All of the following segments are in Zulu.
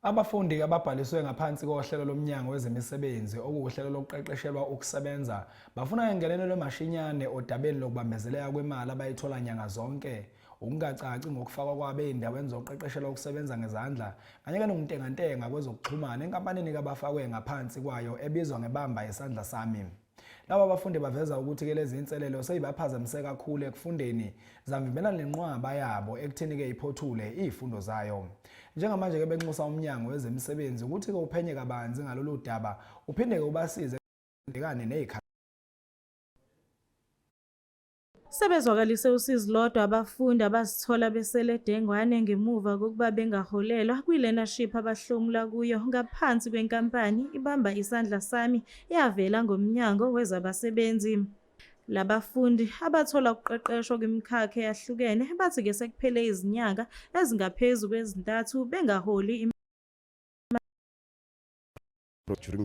Abafundi ababhaliswe ngaphansi kohlelo lomnyango wezemisebenzi okuwuhlelo lokuqeqeshelwa ukusebenza bafuna ngengenelelo mashinyane odabeni lokubambezeleka kwemali abayithola nyanga zonke ukungacaci ngokufakwa kwabo ezindaweni zokuqeqeshelwa ukusebenza ngezandla kanye kanokuntengantenga kwezokuxhumana enkampanini kabafakwe ngaphansi kwayo ebizwa ngebamba isandla sami Laba bafundi baveza ukuthi ke lezi inselelo seyibaphazamise kakhulu ekufundeni zamvimbela nenqwaba yabo ekutheni ke iphothule izifundo zayo. Njengamanje ke benxusa umnyango wezemisebenzi ukuthi ke uphenye kabanzi ngalolu daba uphinde ke ubasize ekubhekane nezikhathi Sebezwakalise usizi lodwa abafundi abazithola besele dengwane ngemuva kokuba bengaholelwa kwi-learnership abahlomula kuyo ngaphansi kwenkampani ibamba isandla sami eyavela ngomnyango wezabasebenzi. Labafundi abathola ukuqeqeshwa kwimikhakha eyahlukene bathi ke sekuphele izinyanga ezingaphezu kwezintathu bengaholi during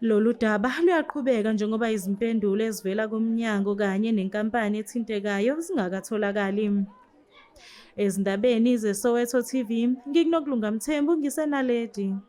Lolu daba luyaqhubeka njengoba izimpendulo ezivela kumnyango kanye nenkampani ethintekayo zingakatholakali. Ezindabeni zeSoweto TV, ngikuNokulunga Mthembu ngiseNaledi.